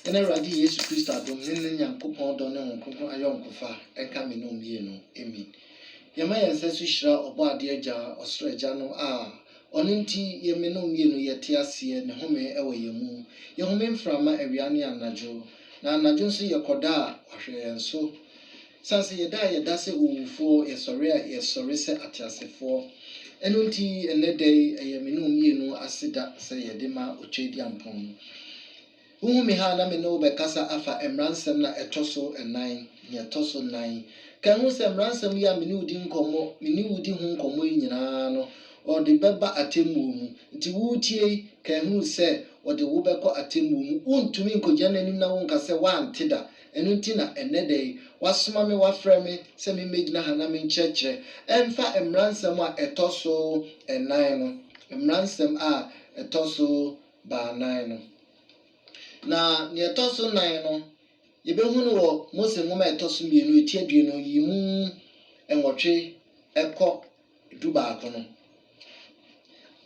Yɛn Awurade Yesu Kristo adom ne ne Nyankopɔn dɔ ne Honhom Kronkron ayɔnkofa nka me ne wo mmienu. Amen. Yɛma yɛn nsa so hyira Ɔbɔadeɛ Agya, Ɔsoro Agya no a Ɔno nti yɛn me ne wo mmienu yɛte aseɛ ne home wɔ yɛn mu. Yɛhome mframa awia ne anadwo. Na anadwo nso yɛkɔda a wahwɛ yɛn so. Esiane sɛ yɛda a yɛda sɛ owufoɔ, yɛsɔre a yɛsɔre sɛ ateasefoɔ. Ɛno nti, ɛnnɛ da yi, ɛyɛ me ne wo mmienu aseda sɛ yɛde ma Okyerɛdiampɔn no. Wohu me ha a na me ne wo bɛkasa afa mmaransɛm no a ɛtɔ so nnan, nea ɛtɔ so nnan. Kae hu sɛ mmaransɛm yi a me ne wo di nkɔmmɔ, me ne wo di ho nkɔmmɔ yi nyinaa no, wɔde bɛba atemmuo mu. Nti woretie yi, kae hu sɛ wɔde wo bɛkɔ atemmuo mu, wontumi nkɔgyina n'anim na wonka sɛ woante da, ɛno nti na ɛnnɛ da yi wɔasoma me, wɔafrɛ me sɛ memmɛgyina ha na menkyerɛkyerɛ ɛmfa mmaransɛm a ɛtɔ so nnan no, mmaransɛm a ɛtɔ so baanan no. Na deɛ ɛtɔ so nnan no, yɛbɛhu no wɔ Mose nwoma a ɛtɔ so mmienu, ɛtiaduonu, yi mu nwɔtwe kɔ dubaako no,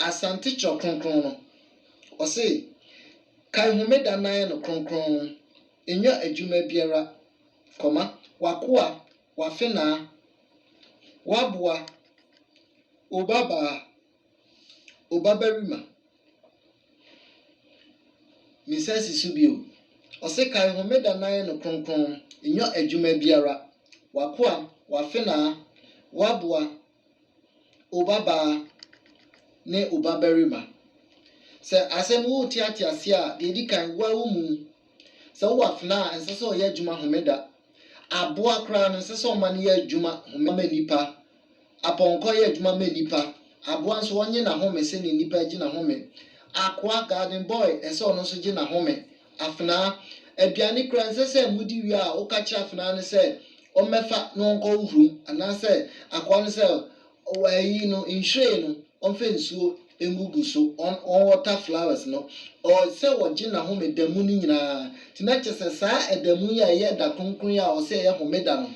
Asante Twerɛ Kronkron no, ɔse, Kae Homeda na yɛ no kronkron, nnya adwuma biara, kɔma, w'akoa, w'afenaa, w'aboa, obabaa, obabarima. Me nsa si so bio. Ɔse kae homeda na yɛ no kronkron, nyɔ adwuma biara, w'akoa, w'afenaa, w'aboa, obabaa ne obabarima. Sɛ asɛm no worete ate aseɛ a, deɛ ɛdi kan, wo ara wo mu. Sɛ wowɔ afenaa a, ɛnsɛ sɛ ɔyɛ adwuma homeda. Aboa koraa no, ɛnsɛ sɛ ɔma no yɛ adwuma homeda ma nnipa. Apɔnkɔ yɛ adwuma ma nnipa. Aboa nso ɔnye n'ahome sɛnea nnipa regye n'ahome. Akoa, garden boy, ɛsɛ ɔno nso gye n'ahome. Afenaa, aduane koraa ɛnsɛ sɛ modi wie a woka kyerɛ afenaa no sɛ ɔmmɛfa na ɔnkɔhohoro mu anaasɛ akoa no sɛ ɔyi no nhwiren no. Ɔmfa nsuo ngugu so, ɔn ɔnwater flowers no, ɔɔ sɛ ɔgye n'ahome da mu no nyinaa. Nti na kyerɛ sɛ saa ɛda mu yi a ɛyɛ ɛda kronkron yi a ɔsɛ ɛyɛ homeda no,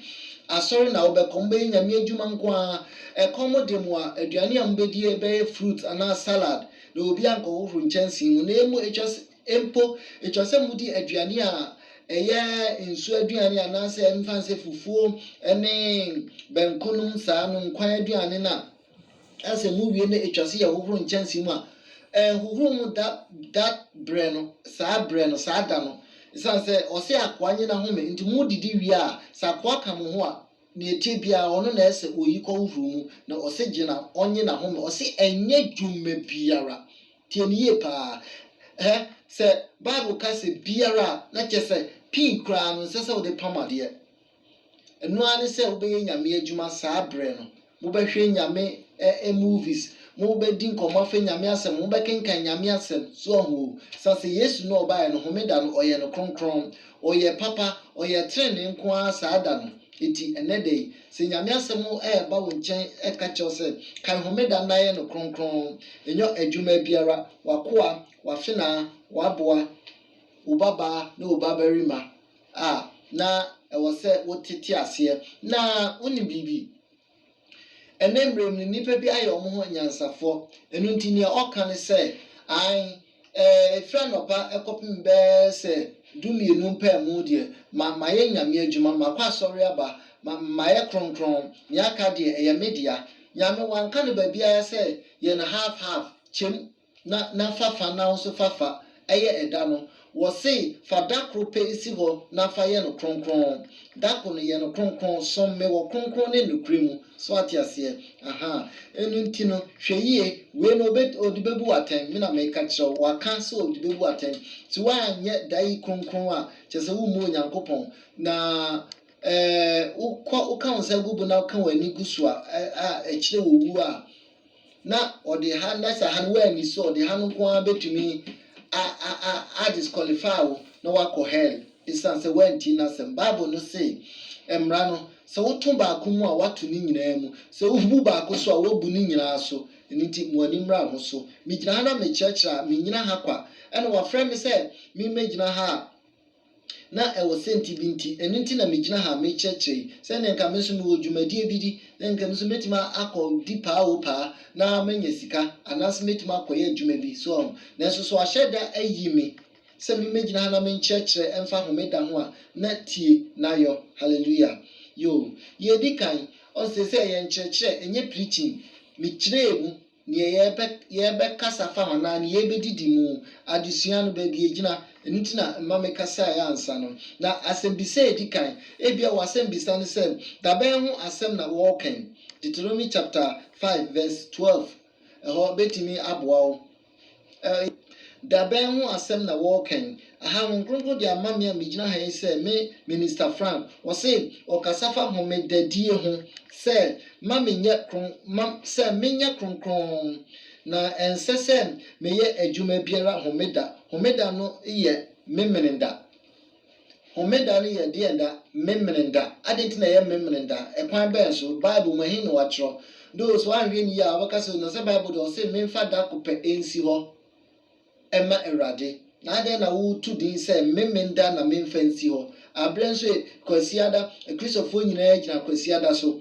asɔre na wobɛkɔ, mobɛyɛ Nyame adwuma nko ara. Ɛkɔm de mo a, aduane a mobɛdie bɛyɛ fruit anaa salad, na obiara nkɔhohoro nkyɛnsee mu, na emu ɛtwa sɛ, mpo ɛtwa sɛ modi aduane a ɛyɛ nsuo aduane anaasɛ mfa nsɛ fufuo ne banku nom saa no, nkwan aduane no a. Sɛ muwie na etwa sɛ yɛhohoro nkyɛnsee mu a, ɛnhohoro mu da da berɛ no, saa berɛ no, saa da no. Esiane sɛ ɔse akoa nye n'ahome nti, modidi wie a, sɛ akoa ka mo ho a, nea ɛteɛ biara, ɔno na ɛsɛ oyi kɔhohoro mu, na ɔse gye na ɔnye n'ahome. Ɔse ɛnyɛ dwuma biara. Tie no yie paa. Hɛ, sɛ Bible ka sɛ biara a, na kyerɛ sɛ pii koraa no, ɛnsɛ sɛ wode pam adeɛ. Ɛno ara ne sɛ wobɛyɛ Nyame adwuma saa berɛ no. Mobɛhwɛ Nyame eh movies, mo bɛ di nkɔmmɔ afɛ Nyame asɛm, mo bɛ kenkan Nyame asɛm, so wahu o. San sɛ Yesu no ɔbaeɛ no homeda no ɔyɛ no kronkron, ɔyɛ papa, ɔyɛ trenee nko ara saa da no. Eti ɛnɛ da yi, sɛ Nyame asɛm ɛɛba wo nkyɛn ɛɛka kyerɛ wo sɛ kae homeda na yɛ no kronkron, nyɔ adwuma biara, w'akoa, w'afenaa, w'aboa, wo babaa ne wo babarima, a, na ɛwɔ sɛ wote te aseɛ na wonim biribi. Ɛnnɛ mmerɛ mu no, nnipa bi ayɛ wɔn ho anyansafoɔ. Ɛno nti deɛ ɔka ne sɛ, Ae, ɛfiri anɔpa kɔpem bɛyɛ sɛ dummienu mpaemu deɛ, ma, mayɛ Nyame adwuma, makɔ asɔre aba, ma, mayɛ kronkron, deɛ aka deɛ, ɛyɛ me dea. Nyame, wanka no baabiara sɛ yɛn half-half, kyɛm. na na fafa no ahosofafa yɛ ɛda no, wɔsee, Fa da koro pɛ si hɔ na fa yɛ no kronkron. Da koro no, yɛ no kronkron. Som me wɔ kronkron ne nokorɛ mu. So woate aseɛ? Ahaa. Ɛno nti no, hwɛ yie, wei no ɔbɛ, ɔde bɛbu wo atɛn. Me na meka kyerɛ wo. Waka sɛ ɔde bɛbu wo atɛn. Nti woanyɛ da yi kronkron a, kyerɛ sɛ wommu Onyankopɔn. Na, ɛɛ, wokɔ, woka wo nsa gu bo na woka w'ani gu so a, a, ɛkyerɛ owuo a. na ɔde ha na sɛ ha no woanni so a ɔde ha no nko ara bɛtumi a a a a disqualify wo na woakɔ hell ɛsiane sɛ woantie n'asɛm bible no se mmara no sɛ woto baako mu a woato ne nyinaa mu sɛ wobu baako so a woabu ne nyinaa so ɛno nti mo ani mmra ho so megyina ha na mekyerɛkyerɛ a mennyina ha kwa ɛna wafrɛ me sɛ memmɛgyina ha a Na ɛwɔ sɛnti bi nti, ɛno nti na megyina ha merekyerɛkyerɛ yi, sɛdeɛ nka me nso mewɔ dwumadie bi di, na nka me nso mɛtumi akɔ di paa o paa na manya sika, anaasɛ mɛtumi akɔyɛ adwuma bi, so wahu. Nanso sɛ wɔahyɛ da ayi me sɛ memmɛgyina ha na menkyerɛkyerɛ ɛmfa Homeda ho a, na tie na yɔ. Hallelujah. Yoo. Yɛredi kan, ɔn, seesei ɛyɛ nkyerɛkyerɛ, ɛnyɛ preaching. Mekyerɛɛ mu. Nea yɛbɛ yɛbɛkasa fa ho anaa nea yɛbɛdidi mu adesua no, baabi a ɛgyina. Ɛno nti na mma mekasaeɛ ansa no. Na asɛmbisa a ɛdi kan, ebia w'asɛmbisa ne sɛ, Dabɛn ho asɛm na wɔreka yi? Deuteronomy chapter five verse twelve, ɛhɔ bɛtumi aboa wo. Ɛɛ, da bɛn ho asɛm na wɔreka yi? Aha, Honhom Kronkron de ama me a megyina ha yi sɛ me Minister Frank. Ɔse ɔkasa fa homedadie ho, sɛ ma menyɛ kron, ma, sɛ menyɛ kronkron, na ɛnsɛ sɛ meyɛ adwuma biara homeda. Homeda no yɛ Memeneda. Homeda no yɛ deɛn da? Memeneda. Adɛn nti na ɛyɛ Memeneda? Ɛkwan bɛn so? Bible mu, ɛhe na wɔatwerɛ? Though sɛ woanhwɛ no yie a, wobɛka sɛ, na sɛ Bible deɛ ɔse memfa da ko pɛ nsi hɔ mma Awurade, na adɛn na woto din sɛ Memeneda na memfa nsi hɔ? Aberɛ nso ɛ, Kwasiada, Akristofoɔ nyinaa gyina Kwasiada so.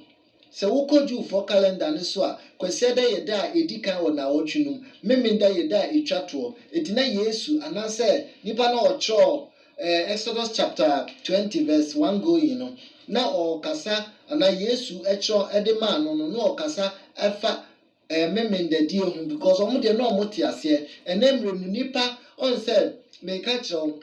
Sɛ wokɔ Jewfoɔ kalɛnda no so a, Kwasiada yɛ da a ɛdi kan wɔ naawɔtwe no mu. Memenda yɛ da a ɛtwa toɔ. Enti na Yesu, anaasɛ nipa no a ɔtwerɛɛ Exodus chapter twenty verse one going no, na ɔrekasa, anaa Yesu twerɛ de maa no no, na ɔrekasa fa Ɛyɛ me mendadie ho because ɔmo deɛ na ɔmo te aseɛ ɛnɛ mmerɛ mu nipa ɔn sɛ meka kyerɛ wo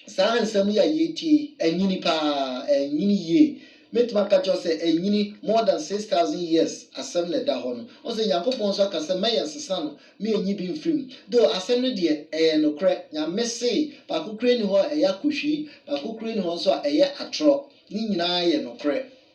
saa nsɛm yi a yɛretie yi ɛnyini paa ɛnyini yie mɛtumi aka kyerɛ wo sɛ ɛnyini more than six thousand years asɛm na ɛda hɔ no ɔn sɛ Nyankopɔn nso aka sɛ mɛyɛ nsesa no me ɛnyi bi mfiri mu though asɛm no deɛ ɛyɛ nokorɛ Nyame se baako koraa nni hɔ a ɛyɛ akohwii baako koraa nni hɔ nso a ɛyɛ atorɔ ne nyinaa yɛ nokorɛ.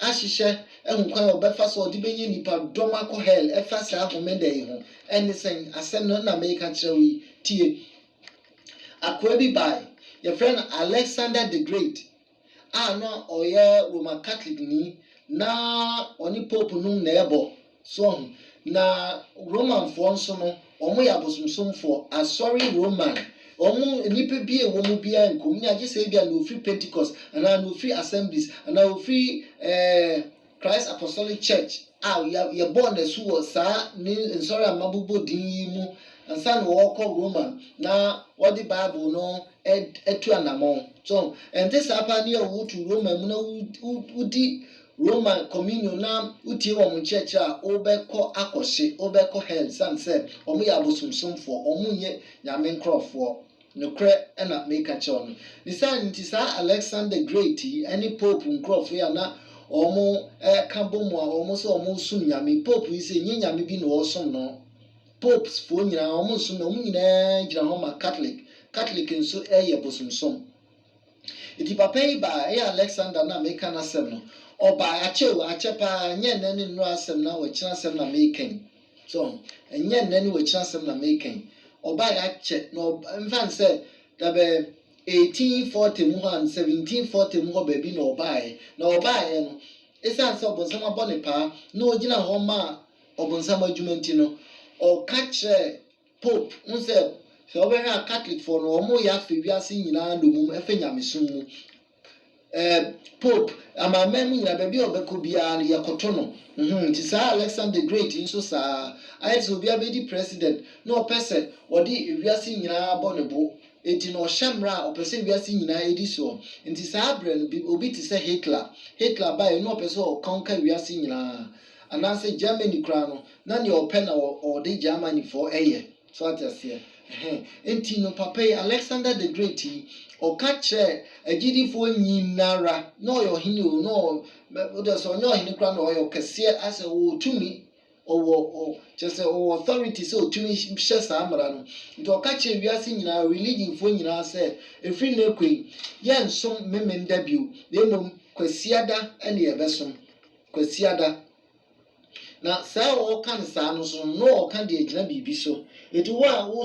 ahyehyɛ ahu kwan a wɔbɛfa so a wɔde benya nnipadɔm akɔ hell ɛfa saa Homeda yi ho. Ɛnne sɛn? Asɛm no na mereka kyerɛ wo yi. Tie! Akoa bi bae, wɔfrɛ no Alexander the Great, a na ɔyɛ Roma Katolekni, na ɔne pope nom na ɛbɔ. So ɔho? Na Romanfoɔ nso no, wɔn yɛ abosomsomfoɔ. Asɔre Roman, wɔn nnipa bi a ɛwɔ mu biara nkom nni agye sɛ ebia na wɔfiri Pentecost, anaa na wɔfiri Assemblies, anaa wɔfiri eh, Christ Apostolic Church a yɛ, yɛbɔɔ no asu wɔ saa ne nsɔre a mabobɔ din yi mu ansa na wɔrekɔ Roman na wɔde Bible no atu anammɔn. So ɔho? Ɛnte saa paa ne a wotu Roman mu na wo, wo, wodi Roma Communion na wotie wɔn nkyerɛkyerɛ a wobɛkɔ akɔhye, wobɛkɔ hell esiane sɛ wɔyɛ abosomsomfoɔ, wɔnyɛ Nyame nkorɔfoɔ. Nokorɛ na mereka kyerɛ wo no. Ne saa nti saa Alexander the Great yi ne Pope nkorɔfoɔ yi a na wɔka bɔ mu a wɔn sɛ wɔresom Nyame, Pope yi sɛ nyɛ Nyame bi na wɔresom no, Popes foɔ nyinaa wɔnsom Nyame, wɔn nyinaa gyina hɔ ma Catholic, Catholic nso yɛ bosomsom. Enti papa yi baa, ɛyɛ Alexander na meka n'asɛm no, ɔbae, akyɛ o, akyɛ pa ara, ɛnyɛ nnɛ ne nnora asɛm na wɔakyiri asɛm na mereka yi. So ho? Ɛnyɛ nnɛ ne wɔakyiri asɛm na mereka yi. Ɔbae, akyɛ, na ɔb, mfa no sɛ da bɛ 1840 mu hɔ anaa 1740 mu hɔ baabi na ɔbaeɛ. Na ɔbaeɛ no, ɛsiane sɛ ɔbonsam abɔ ne paa na ɔgyina hɔ ma ɔbonsam adwuma nti no, ɔka kyerɛɛ, Pope, wohu sɛ, sɛ wobɛhwɛ a Catholic-foɔ no, wɔyɛ afa wiase nyinaa nnommum, ɛfa nyamesom mu. Eh, Pope, amanaman mu nyinaa, baabi a ɔbɛkɔ biara no, yɛkoto no. Humm, nti saa Alexander the Great yi nso saa ara. Ayɛ te sɛ obiara bɛdi president, na ɔpɛ sɛ ɔde wiase nyinaa bɔ ne bo. Enti no ɔhyɛ mmara a ɔpɛ sɛ wiase nyinaa di soɔ. Nti saa berɛ no, bi, obi te sɛ Hitler, Hitler baeɛ no, na ɔpɛ sɛ ɔ conquer wiase nyinaa. Anaasɛ Germany koraa no, na nea ɔpɛ na ɔde Germanyfoɔ yɛ. So ate aseɛ? Ɛhɛn. Enti no, papa yi, Alexander the Great yi, ɔka kyerɛɛ agyidifoɔ nyinara, na ɔyɛ ɔhene o, na ɔ, wode sɛ ɔnyɛ ɔhene koraa na ɔyɛ ɔkɛseɛ, asɛ ɔwɔ tumi, ɔwɔ, ɔ, kyerɛ sɛ ɔwɔ authority sɛ ɔtumi hyɛ saa mmara no. Nti ɔka kyerɛɛ wiase nyinaa, religionfoɔ nyinaa sɛ, ɛfiri nnɛ rekɔ yi, yɛnsom Memeneda bio, na mmom Kwasiada ne yɛbɛsom. Kwasiada. Na saa a ɔɔka no saa no so no, na ɔɔka de agyina biribi so. Enti wo a wo.